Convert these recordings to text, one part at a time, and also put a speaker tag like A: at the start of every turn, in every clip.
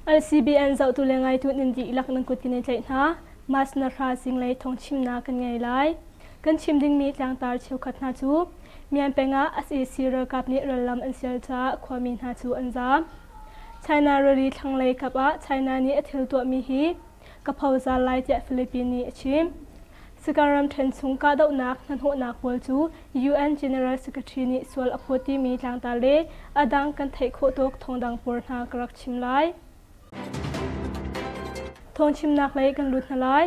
A: LCBN zohtu le ngaitu nan dih lak nan kut kan i tlaih hna. Mas na hra zinglei thong chimnak kan ngei lai. Kan chim dingmi tlangtar cheukhat hna cu Mianpeng ah SAC ralkap nih rallam an sial caah khuami hna cu an zaam. China rally thlanglei kap ah China nih a thil tuahmi hi ka phozal lai tiah Philippines nih a chim. Sakar ramṭhen chung kahdohnak hnahnawhnak pawl cu UN General Secretary nih sual a phawt timi tlangtar le a dang kan theih khawh tawk thawngdang pawl hna ka rak chim lai. Thawngchimnak lei kan lut hna lai.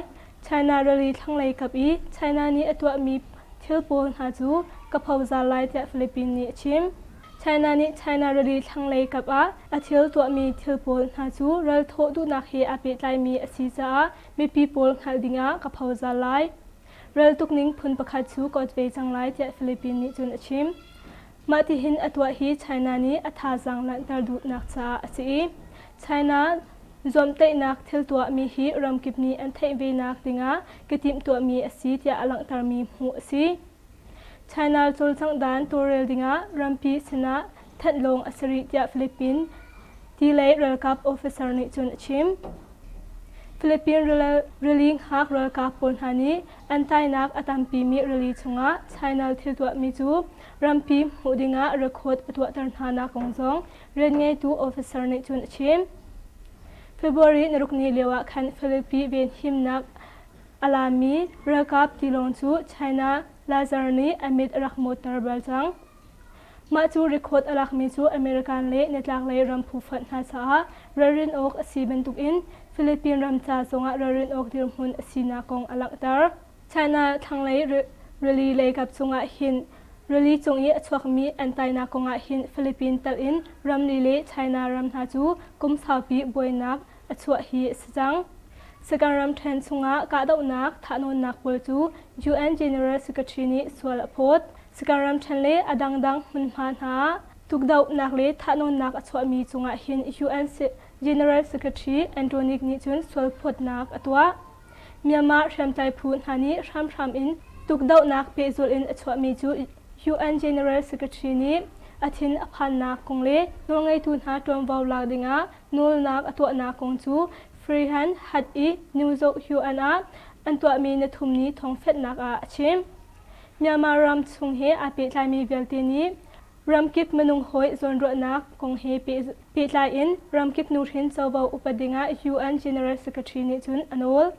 A: China rally thlanglei kap i China nih a tuahmi thil pawl hna cu ka phozal lai tiah Philippines nih a chim. China nih China rili thlanglei kap ah a thil tuahmi thil pawl hna cu ral thawh duhnak he aa pehtlaimi a si caah mipi pawl hngalh dingah ka phozal lai. Raltuk ning phun pakhat cu ka ot ve cang lai tiah Philippines nih cun a chim. Mah tihin a tuah hi China nih a thazaang langhter duhnak caah a si i China zuamtaihnak thil tuahmi hi ramkip nih an theih venak dingah ka timhtuahmi a si tiah a langhtermi hmuh a si. China cawlcangh dan tawlrel dingah rampi sinah thanh lawng a si rih tiah Philippines Delay ralkap officer nih cun a chim. Philippines rili ngak ralkap pawl hna nih an tainak a tampimi rili chungah China thil tuahmi cu rampi hmuh dingah record a tuahter hnanak kong zong rianngeitu officer nih cun a chim. February narukni lioah khan Philippines venhimnak A laammi ralkap tilawng cu China Lazar nih a mit a rak mawtter bal cang. Mah cu record a lakmi cu American le nitlaklei ram phufonh hna caah ralrin awk a si bantukin Philippine ram ca zongah ralrin awk dirhmun a sinak kong a langhter. China thlanglei rili leikap cungah hin rili cung i a chuakmi an tainak kongah hin Philippine telh in ramli le China ram hna cu kum saupi buainak a chuah hi a si cang. Sagan ramṭhen chungah kahdohnak thahnawnnak pawl cu UN General Secretary nih sual a phawt. Sagan ramṭhen le a dangdang hmunhma hna tukdohnak le thahnawnnak a chuahmi cungah hin UN General Secretary Antonic nih cun sualphawtnak a tuah. Myanmar hriamtlai phu hna nih hramhram in tukdohnak pehzulh in a chuahmi cu UN General Secretary nih a thin a phannak kong le nawlngeitu hna ṭuanvo lak dingah Nawlnak a tuahnak kong cu freehan hat i New Zoh-Hyu-an ah an tuahmi nathumni thawngfenhnak ah a chim. Myanmar ram chung he aa pehtlaimi vialte nih ramkip minung hawi zawnruahnak kong he pehtlai in ramkip nuhrin covo upat dingah UN General Secretary nih cun a nawl.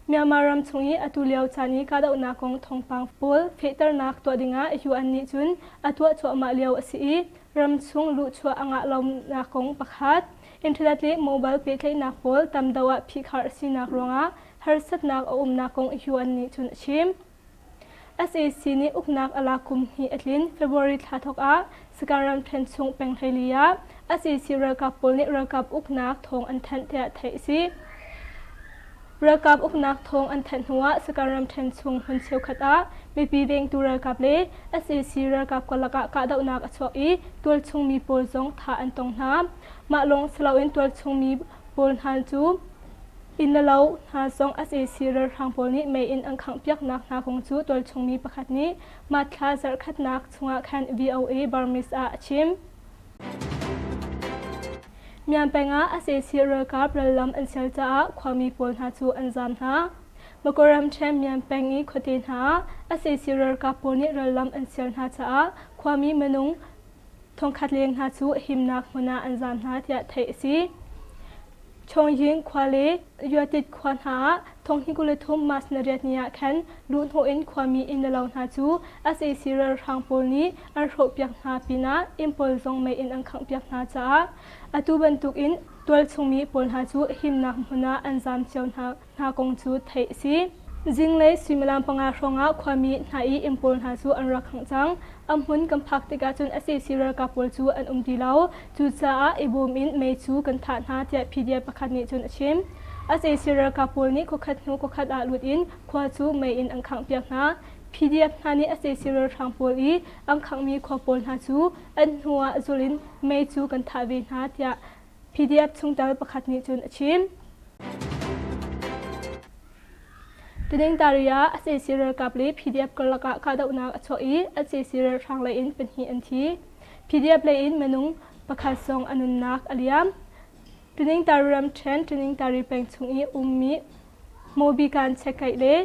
A: Myanmar ram chung i atu lio caan i kahdohnak kong thawngpang pawl fehternak tuah dingah UN nih cun a tuah cuahmah lio a si i Ramchung luhchuah a ngah lonak kong pakhat, Internet le mobile pehtlaihnak pawl tamdeuh ah phihkhar a sinak ruangah harsatnak a umnak kong yuan nih cun a chim. SAC nih uknak a lak kum hnih a tlin February thla thawk ah Sakhan ramṭhen chung peng hleili ah SAC ralkap pawl nih ralkap uknak thawng an thanh tiah theih a si. Ralkap uknak thawng an thanh hnuah Sakan ramṭhen chung hmun cheukhat ah mipi vengtu ralkap le sac ralkap karlak ah kahdohnak a chuak i tualchung mi pawl zong thah an tong hna. Mah lawng si loin tualchung mi pawl hna cu inn le lo hna zong sac ralhrang pawl nih mei in an khanghpiaknak hna kong cu tualchung mi pakhat nih mahthla zarhkhatnak chungah khan VOA Burmese ah a chim. Myan peng ah a sesih ralkap rallam an sial caah khuami pawl hna cu an zaam hna. Makaram ṭhen Myan peng i khuate hna ah a sesih ralkap pawl nih rallam an sial hna caah khuami minung thongkhat leng hna cu himnak hmun ah an zaam hna tiah theih a si. Chawngyin khua le Yuatit khua hna ah thonghi kul le thum mas na riat ni ah khan luhhnawh in khuami innlo hna cu sac ralhrang pawl nih an hrawhpiak hna pinah inn pawl zong mei in an khanghpiak hna caah atu bantukin tualchung mi pawl hna cu himnak hmun ah an zaam cio hna. hna kong cu theih a si. Zinglei suimilam panga hrawngah khuami hna i inn pawl hna cu an rak khangh cang. A hmun kan phak tikah cun a sesi ralkap pawl cu an um ti lo. Cucaah i bawm in mei cu kan thah hna tiah PDF pakhat nih cun a chim. A sesi ralkap pawl nih khuakhat hnu khuakhat ah lut in khua cu mei in an khanghpiak hna. PDF hna nih a sesi ralhrang pawl i an khanghmi khua pawl hna cu an hnu ah zulh in mei cu kan thah ve hna tiah PDF chungtel pakhat nih cun a chim. Teningtariya SAC ralkap le PDF karlak ah kahdohnak a chuah i SAC ralhrang lei in pahnih an thi. PDF lei in minung pakhat zong a nunnak a liam. Teningtari ramṭhen Teningtari peng chung i ummi Mobikan Chekaih le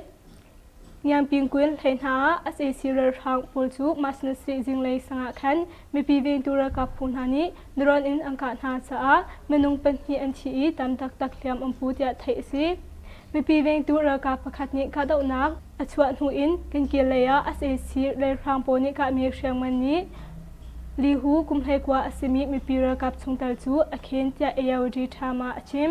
A: Ngiangping Kuen hlei hna ah sac ralhrang pawl cu Masnaseh zinglei sangah khan mipi vengtu ralkap phu hna nih drone in an kah hna caah minung pahnih an thi i tam taktak hliam um pu tiah theih a si. Mipi vengtu ralkap pakhat nih kahdohnak a chuah hnu in Kenkil lei ah sac ralhrang pawl nih kahmi hriangman nih Lihu kumhlei kua a simi mipi ralkap chungtel cu a khen tiah ARD Tama a chim.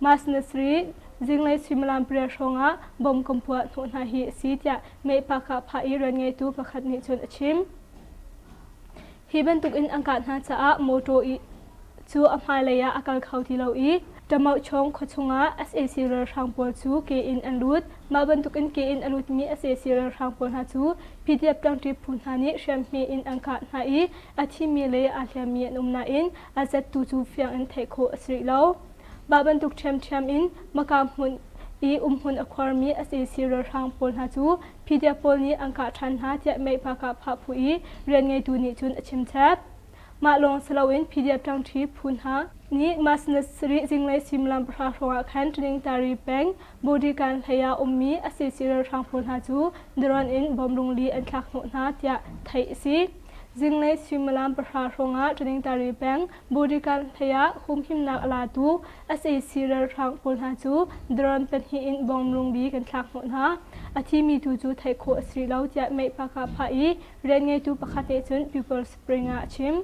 A: Mas na Sri, zinglei suimilam pariat hrawngah bom kan puah hnawh hna hi a si tiah Meihpakah phah i rian ngeitu pakhat nih cun a chim. Hi bantukin an kah hna caah mawṭaw i cu a hmailei ah a kal kho ti lo i Ṭamauchong khua chungah sac ralhrang pawl cu ke in an lut. Mah bantukin ke in a lutmi sac ralhrang pawl hna cu PDF ṭangṭi phu hna nih hriamhme in an kah hna i a thimi le aa hliammi an um nain a zattu cu fiang in theih khawh a si rih lo. Mah bantuk ṭhiamṭhiam in Maka hmun i umhmun a khuarmi a seisi ralhrang pawl hna cu PDF pawl nih an kah ṭhan hna tiah Mehpakah phahphu i rian ngeitu nih cun a chimchap. Mah lawng si loin PDF ṭangṭhi phu hna nih mas ni sarih zinglei suimilam pahra hrawngah khan Tlinintari peng Bodikan hleiah ummi a seisi ralhrang pawl hna cu daron in bomb rungli an thlak hnawh hna tiah theih a si. Zinglei suimilam pahra hrawngah Tlinintari peng Bodyguard hleiah humhimnak a latu sac ralhrang pawl hna cu drone pahnih in bomb rungbik an thlak hnawh hna. A thimi tu cu theih khawh a si lo tiah Meihpakah phah i rian ngeitu pakhat nih cun People Spring ah a chim.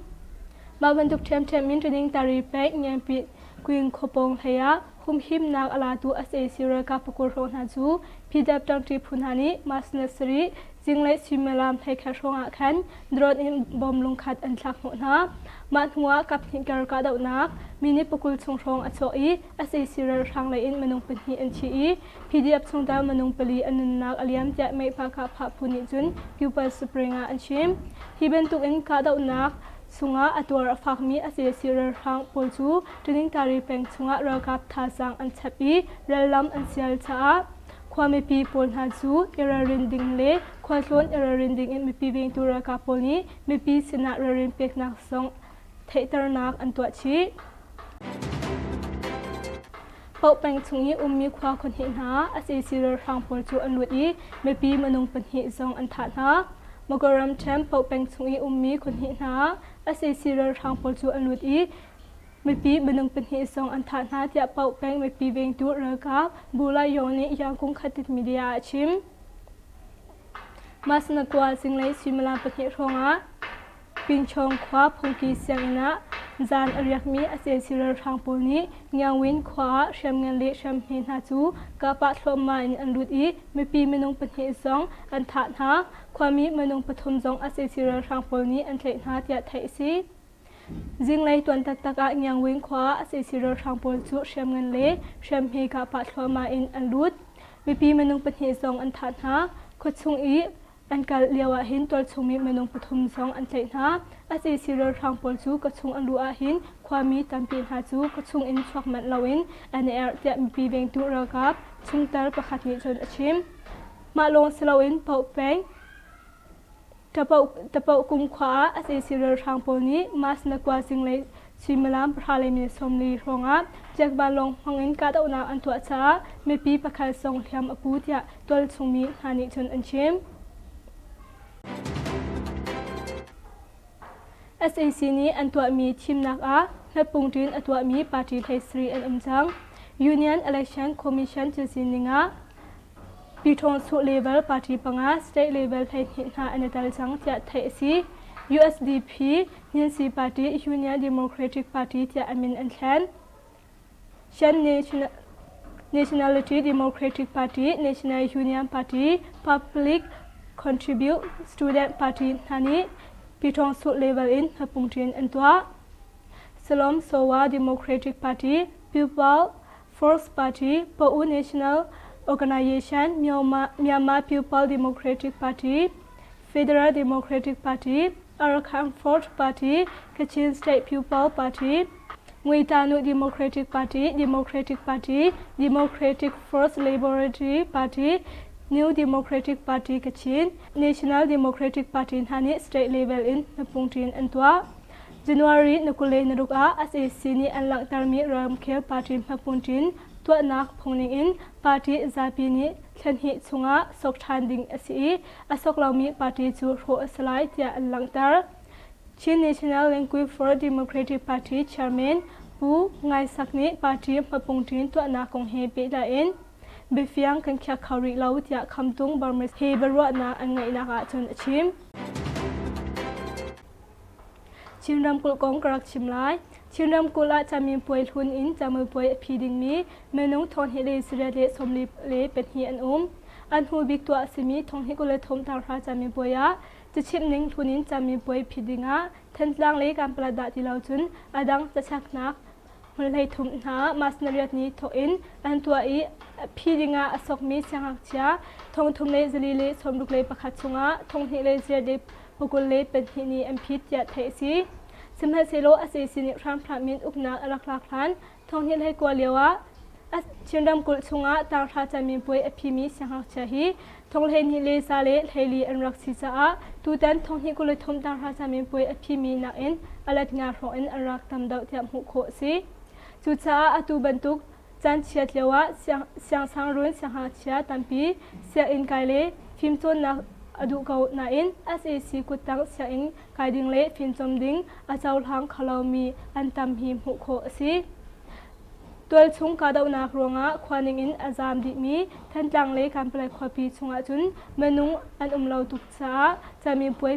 A: Mah bantuk ṭhiamṭhiam in training tari pek Ngiampit Kwing khuapawng hleiah humhimnak a latu sac ralkap pakur hrawh hna cu pdp ṭangṭi phu hna nih mas ni sarih zinglei suimilam hleikhat hrawngah khan drone in bomb lungkhat an thlak hnawh hna mah hnuah kaphnih kar kahdohnak minute pakul chung hrawng a chuah i sac ralhrang lei in minung pahnih an thi i pdp chungtel minung pali an nunnak a liam tiah Mehpakah Phahphu nih cun Kupal Spring ah an chim hi bantukin kahdohnak chungah a tuar a fakmi sac ralhrang pawl cu Tulingtari peng chungah ralkap thazaang an chap i rallam an sial caah khua mipi pawl hna cu iralrin ding le khualtlawn iralrin ding in mipi vengtu ralkap pawl nih mipi sinah ralrin peknak zong theihternak an tuah chih. Poh peng chung i ummi khua khonhnih hna sac ralhrang pawl cu an lut i mipi minung pahnih zong an thah hna. Magaram Camp Poh peng chung i ummi khonhnih hna sac ralhrang pawl cu an lut i Mipi minung pahnih zong an thah hna tiah Paoh peng mipi vengtu ralkap Bulayo nih Yangon Khatit media ah a chim. Masnakwa zinglei suimilam pahnih hrawngah Pinchawng khua phungki sianginn ah zan a riakmi a ceci ralhrang pawl nih Ngyawin khua ah hriamngan le hriamhme hna cu kapah thluahmah in an lut i mipi minung pahnih zong an thah hna. Khuami minung pathum zong a ceci ralhrang pawl nih an tlaih hna tiah theih a si. Zinglei tuan taktak ah Ngiangwing khua sac ralhrang pawl cu hriam ngan le hriam hme kah pah thluahmah in an lut. Mipi minung pahnih zong an thah hna. Khuachung i an kal lio ahhin tualchungmi minung pathum zong an tlaih hna. A sac ralhrang pawl cu kawchung an luh ahhin khuami tampi hna cu kawchung in chuak manh loin an i erh tiah mipi vengtu ralkap chungtel pakhat nih cun a chim. Mah lawng si loin Pauk peng, Tapauk kumkhua ah a ceci ralhrang pawl nih Mas na kua zinglei suimilam pahra le minute sawmli hrawngah Jack Vanlawng hmangin kahdohnak an tuah caah mipi pakhat zong hliam a pu tiah tualchungmi hna nih cun an chim. SAC nih an tuahmi thimnak ah hnappung ṭin a tuahmi party hlei sarih an um cang. Union Election Commission thil sining ah Pyithawng chuh level party panga state level hleihnih hna an i tel cang tiah theih a si. USDP, Hninsi Party, Union Democratic Party tiah a min an thlen. Shan National Nationality Democratic Party, National Union Party, Public Contribute Student Party hna nih pyithawng chuh level in hmapungṭin an tuah. Salom Sowa Democratic Party, Pupil Forbes party, Pa'u National Organization, Myanmar People Democratic Party, Federal Democratic Party, Arakanford Party, Kachin State People Party, Ngweitanu Democratic Party, Democratic Party, Democratic First Laboratory Party, New Democratic Party Kachin, National Democratic Party hna nih state level in hnaphung ṭin an tuah. January ni kule naruk ah SAC nih an langhtermi ramkhel party hmaphun ṭin tuahnak phungning in party zapi nih thlenhnih chungah sawk ṭhan ding a si i a sawk lomi party cu hrawh a si lai tiah an langhter. Chin National Language for Democratic Party chairman Pu Ngai Sak nih party hmaphung ṭin tuahnak kong he pehtlaiin biafiang kan khiak kho rih lo tiah Khamtung Burma he biaruahnak an ngeihnak ahcun a chim. Chin ramkulh kong ka rak chim lai. Chin ramkulh ah camin puai hlun in camu puai a phi dingmi minung thonghnih le sarih le sawmli le pahnih an um. An hnu bik tuah a simi thonghnih kul le thongthar hra camin puai ah cachimh ning hlun in camin puai phi ding ah Thantlang le Kanpalatdah ti lo cun a dang cachaknak hmun hleithum hna mas nariatni thawk in an tuah i phi ding ah a sawkmi siangngakchia thongthum le zali le sawmruk le pakhat chungah thonghnih le sarih le Hmukul le pahnih nih an phit tiah theih a si. Sihmanhsehlaw sac nih hramhram in uknak a rak lak hlan thonghnih hlei kua lioah a Chin ramkulh chungah taanghra camiin puai a phimi siangngakchia hi thong hleihnih le za le hleili an rak si caah tutan thonghnih kul le thum taanghra camiin puai a phimi nakin a lat nga hrawng in an rak tam deuh tiah hmuh khawh a si. Cucaah atu bantuk Caan chiat lioah siangsangruun siangngakchia tampi sianginn kai le fimcawnnak a duh ko nain sac kuttang sianginn kai ding le fimcawm ding a cohlang kholomi an tam hi hmuh khawh a si. Tualchung kahdohnak ruangah khua ningin a zaam dihmi Thantlang le Kanpalai khuapi chungah cun minung an um lo tuk caah camipuai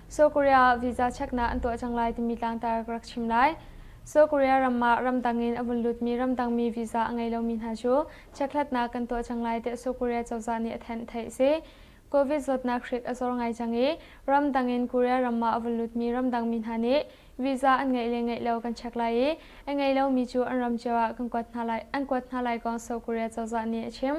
A: Seoul Korea
B: visa cheknak an tuah cang lai timi tlangtar ka rak chim lai. Seoul Korea ram ah ramdang in a vun lutmi ramdangmi visa a ngei lomi hna cu checkhlatnak kan tuah cang lai tiah Seoul Korea cozah nih a thanh theih a si. Covid zawtnak hrik a zor ngai cang i ramdang in Korea ram ah a vun lutmi ramdangmi hna nih visa an ngeih le ngeih lo kan check lai i a ngei lomi cu an ram cio ah kan kuat hna lai an kuat hna lai kong Seoul Korea cozah nih a chim.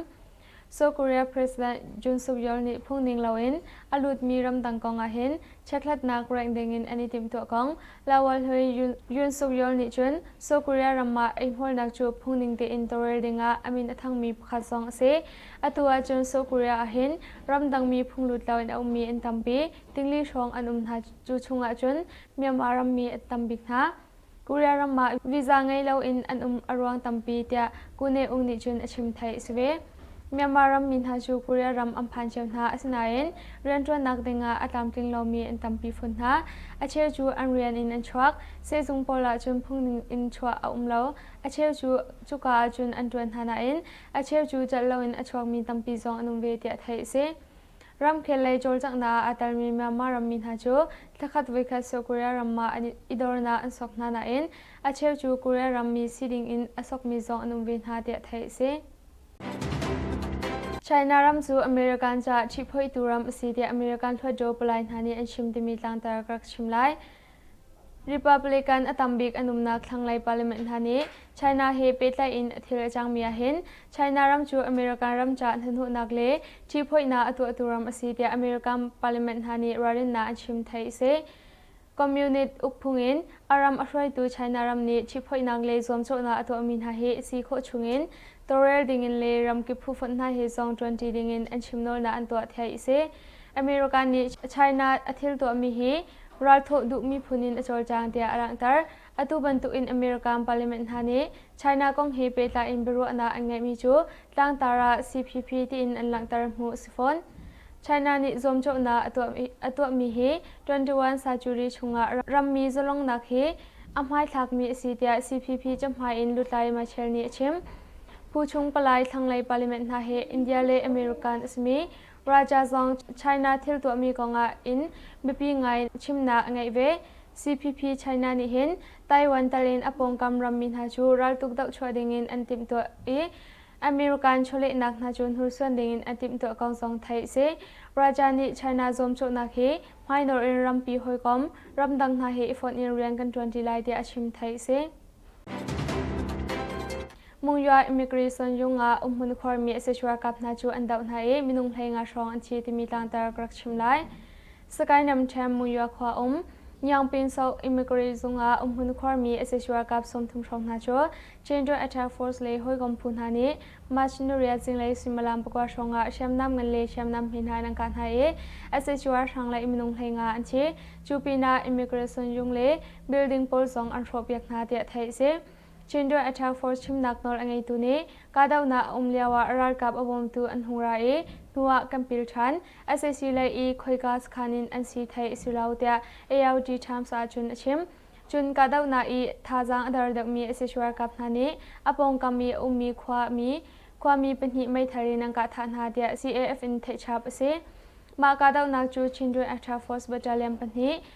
B: South Korea President Jun Suk-yeol nih phungning loin a lutmi ramdang kong ahhin chekhlatnak raih dingin an i timhtuah kong Lawal Hui Yun Suk-yeol nih cun South Korea ram ah eihmuarnak cu phungning tein tawlrel dingah a min a thangmi pakhat zong a si. Atu ahcun South Korea ahhin ramdangmi phunglut loin a ummi an tampi, tingli hrawng an um hna. Cu chung ahcun Myanmar rammi a tam bik hna. Korea ram ah visa ngei loin an um a ruang tampi tiah Koo Ne-ung nih cun a chim theih a si ve. Myanmar ram mi hna cu Korea ram an phan cio hna asinain rianṭuannak dingah a tlamtling lomi an tampi phun hna. A cheu cu an rian in an chuak, sehzung pawl ahcun phungning in chuah a um lo. A cheu cu cuka ahcun an ṭuan hna nain a cheu cu cat loin a chuakmi tampi zong an um ve tiah theih a si. Ramkhel lei cawlcanghnak a telmi Myanmar rammi hna cu thlakhat voikhat sawh Korea ram ah an i dornak an sawk hna nain a cheu cu Korea rammi si dingin a sawkmi zong an um ve hna tiah theih a si. China ram cu American caah ṭhiphoitu ram a si tiah American hluatdaw palai hna nih an chim timi tlangtar ka rak chim lai. Republican a tambik an umnak thlanglei parliament hna nih China he pehtlai in a thil a cangmi ahhin China ram cu American ram caah hnahnawhnak le ṭihphoihnak a tuahtu ram a si tiah American parliament hna nih ralrinnak an chim theih a si. Communist ukphung in a ram a hruaitu China ram nih ṭihphoihnak le zuamcawhnak a tuahmi hna hi si khawh chungin tawlrel dingin le ramkip phufonh hna he zong ṭuanṭi dingin an chim nawlnak an tuah theih a si. American nih China a thil tuahmi hi ralthawh duh miphun in a cawlcang tiah a langhter. Atu bantukin American parliament hna nih China kong he pehtlai in biaruahnak an ngeihmi cu tlangtar ah CPP tiin an langhter hmuh a si fawn. China nih zuamcawhnak a tuahmi hi 21 Sachuri chungah rammi zalongnak hi a hmaithlakmi a si tiah CPP cahmai in Lutlai Machar nih a chim. Phu chung palai thlanglei parliament hna hi India le American a simi Praja zong China thil tuahmi kongah in biapi ngai chimnak a ngeih ve. CPP China nih hin Taiwan tal in a pawngkam rammi hna cu raltuk dohchuah dingin an timhtuah i American chawlehnak hna cu hnursuan dingin a timhtuah kong zong theih a si. Praja nih China zuamcawhnak hi hmainawr in rampi hawikom ramdang hna he i fonh in rian kan ṭuan ṭi lai tiah a chim theih a si. Mungyaw immigration yung ah umhmun khuarmi etc kap hna cu an doh hna i minung hlei nga hrawng an thi timi tlangtar ka rak chim lai. Sakae Namtham Mungyaw khua um Nyangpinso immigrant zung ah umhmun khuarmi etc kap sawmthum hrawng hna cu Children Attack Force le hawikom phu hna nih March ni rial zinglei suimilam pakua hrawng ah hriamnam ngan le hriamnam hme hna an kah hna i etc hrang le minung hlei nga an thi. Cu pinah immigration yung le building pawl zong an hrawhpiak hna tiah theih a si. Chindown Attack Force chimnak nawl a ngeitu nih kahdohnak a um lio ah ralkap a bawmtu an hung ra i hnu ah kan pil ṭhan. SAC lei i khoika sakhan in an si thei a si lo tiah ALG Times ahcun a chim. Cun kahdohnak i thazaang a dar deuhmi sac ralkap hna nih a pawngkam i a ummi khuami khuami pahnih meithal in an kah thah hna tiah CAF in theih chap a si. Mah kahdohnak cu Chindown Attack Force battalion pahnih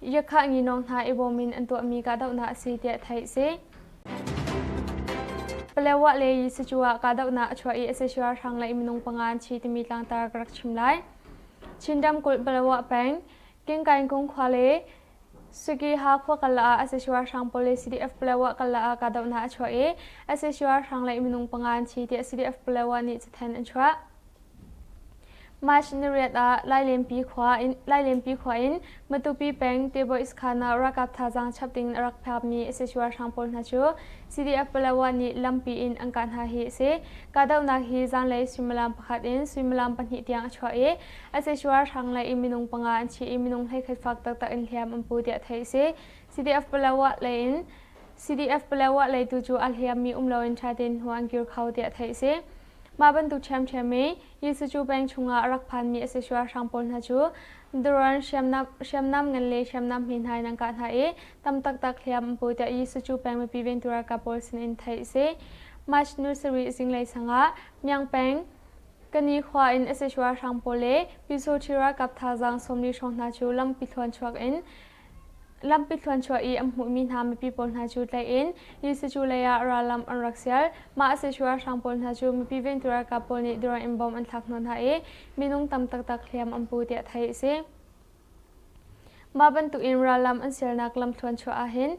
B: Yakhah nginawng hna i bawm in an tuahmi kahdohnak a si tiah theih a si. Palewah le Yisicu ah kahdohnak a chuah i SSU ralhrang le minung panga an thi timi tlangtar ka rak chim lai. Chin ramkulh Palewah peng Kingkaingkung khua le Sukiha khua kala ah SSU ralhrang police CDF Palewah kala ah kahdohnak a chuah i SSU ralhrang le minung panga an thi tiah CDF Palewah nih cathanh an chuah. Mashinariat ah Lailenpi khua in Matupi peng Tebois khan ah ralkap thazaang chap ding a rak phakmi sachuar hrang pawl hna cu CDF Palawa nih lampi in an kah hna hi a si. Kahdohnak hi zanlei suimilam pakhat in suimilam pahnih tiang a chuah i a sachuar hrang lei i minung panga an thi i minung hleikhat fak taktak in hliam an pu tiah theih a si. CDF Palawa leitu cu a hliammi um loin ṭha tein hnu an kir kho tiah theih a si. Mah bantuk ṭhiamṭhiam i Jesuh cu peng chungah a rak phanmi a si sualhrang pawl hna cu daruan hriamnam ngan le hriamnam hme hna in an kah hna i tam taktak hliam an pu tiah Jesuh cu peng mipi vengtu ralkap pawl sinin theih a si. March ni sarih zinglei sangah Myang peng Kani khua in a si sualhrang pawl le Pyusawṭhi ralkap thazaang sawmli hrawng hna cu lampi thluan chuak in Lampi thluanchuah i an hmuhmi hna mipi pawl hna cu tlaih in Jesuh cu leiah rallam an rak sial. Mah a si cu ralhrang pawl hna cu mipi vengtu ralkap pawl nih dura in bom an thlak hna hna i minung tam taktak hliam an pu tiah theih a si. Mah bantukin rallam an sialnak lam thluanchuah ah hin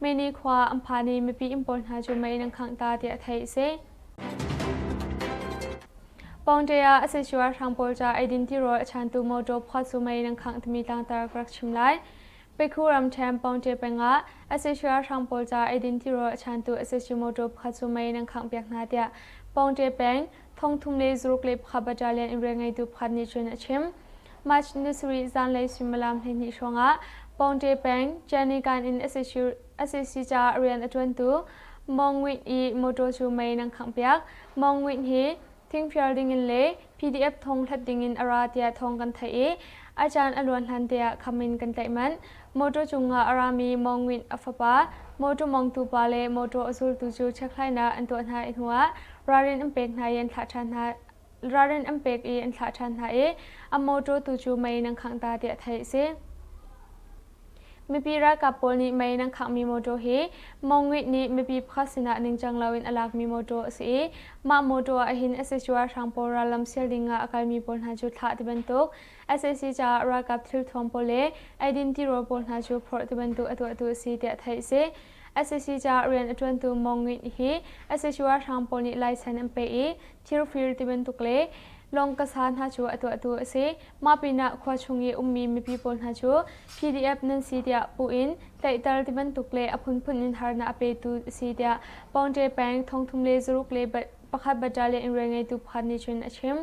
B: Meini khua an phan i mipi inn pawl hna cu mei nan khangh ta tiah theih a si. Pawngṭe ah a si cuar hrang pawl ca eidin tirawl a chantu mawṭaw phuat su mei nan khangh timi tlangtar ka rak chim lai. Pekhu ramṭhen Pawngṭe peng ah a si cuar hrang pawl ca eidin tirawl a chantu a si cu mawṭaw phuat su mei nan khangh piak hna tiah Pawngṭe peng thongthum le zaruk le pakhat battalion in rian ngeitu pakhat nih cun a chim. March ni sarih zanlei suimilam hleihnih hrawngah Pawngte peng Canigan in SAC caah rian a ṭuantu Mong Win i mawṭaw cu mei nan khanghpiak. Mong Win hi thingfial dingin le PDF thong hlat dingin a ra tiah thawng kan theih i a caan a luan hlan te ah kham in kan tlaih manh. Motor cungah a rami Maung Win a fapa, motor mawngtupa le motor a zultu cu chekhlainak an tuah hna i hnuah ralrin an pek hna i an thlah ṭhan hna. Ralrin an pek i an thlah ṭhan hna i a motor tu cu mei nan khangh ta tiah theih a si. Mipi ralkap pawl nih mei nan khanghmi motor hi Maung Win nih mipi pakhat sinah ningcang loin a lakmi motor a si i mah motor ahhin a secuarhrang pawl rallam sial dingah a kalmi pawl hna cu thlah ti bantuk sac caah ralkap thilthuam pawl le eidin tirawl pawl hna cu phorh tibantuk a tuahtu a si tiah theih a si. SAC caah rian a ṭuantu Mong Ngit hi sac ralhrang pawl nih laisen an peh i thirfir tibantuk le lawng kasa hna cu a tuahtu a si. Mah pinah khua chung i ummi mipi pawl hna cu PDF nan si tiah puh in tlaihter tibantuk le a phunphun in harnak a petu a si tiah Pawngṭe peng thong thum le zaruk le pakhat battalion in rian ngeitu pakhat nih cun a chim.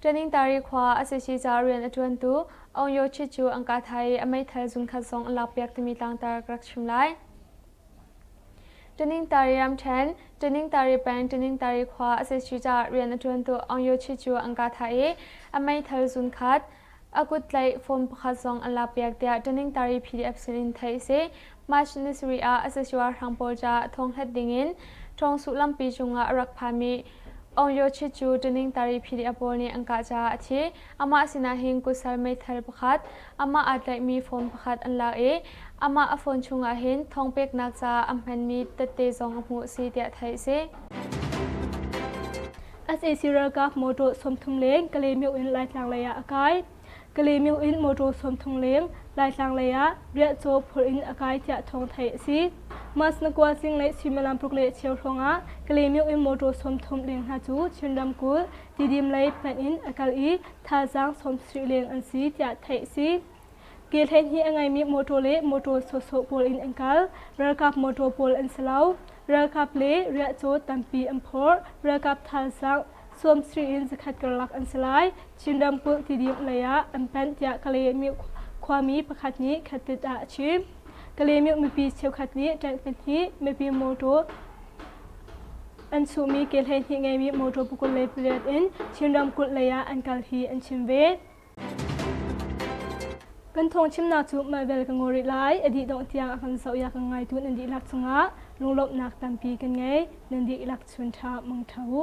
B: Ṭaningtari khua a si si caah rian a ṭuantu Aung Yo Chit cu an ka thai i a meithal zungkhat zong an lakpiak timi tlangtar ka rak chim lai. Ṭaningtari ramṭhen Ṭaningtari peng Ṭaningtari khua a si si caah rian a ṭuantu Aung Yo Chit cu an ka thai i a meithal zunkhat a kut tlaih form pakhat zong a lakpiak tiah ṭaningtari PDF sinin theih a si. March ni sarih ah asasua hrang pawl ca thonghlet dingin ṭhawng sullampi cungah a rak phami Aung Yo Chit cu ṭaningtari PDF pawl nih an kah caah a thi. Amah sinah hin kusal meithal pakhat, amah aa tlaihmi form pakhat an lak i amah a phone chungah hin thawng peknak caah an hmanmi tette zong a hmuh a si
A: tiah theih a si. sac ralkap motor sawmthum leng Kalaymyo in Laitlang lei ah a kai. Kalaymyo in motor sawmthum leng Laitlang lei ah Riahcaw phur in a kai tiah thawng theih a si. Masnakwa Sing le Suimilampuk le Chiauhlawng ah Kalaymyo in motor sawmthum leng hna cu Chin ramkulh Tidim lei hmanh in a kal i thazaang sawmsarih leng an si tiah theih a si. Ke hleihnih a ngeimi mawṭaw le mawṭaw sawhsawh pawl in an kal. Ralkap mawṭaw pawl an si lo. Ralkap le riahcaw tampi an phawrh. Ralkap thalzang sawmsarih in zakhat karlak an si lai. Chin ramkulh tidim lei ah an panh tiah Kalaymyo khuami pakhat nih khatit ah a chim. Kalaymyo mipi cheukhat nih tank pahnih, mipi mawṭaw an chuhmi ke hleihnih ngeimi mawṭaw pakul le pariat in Chin ramkulh lei ah an kal hi an chim ve. Kan thawng chimnak cu Maivel ka ngaw rih lai a dih dongh tiang a kan zoh i a kan ngaitu nan dihlak cungah lunglawmhnak tampi kan ngei nan dihlak chun ṭha mang ṭha u.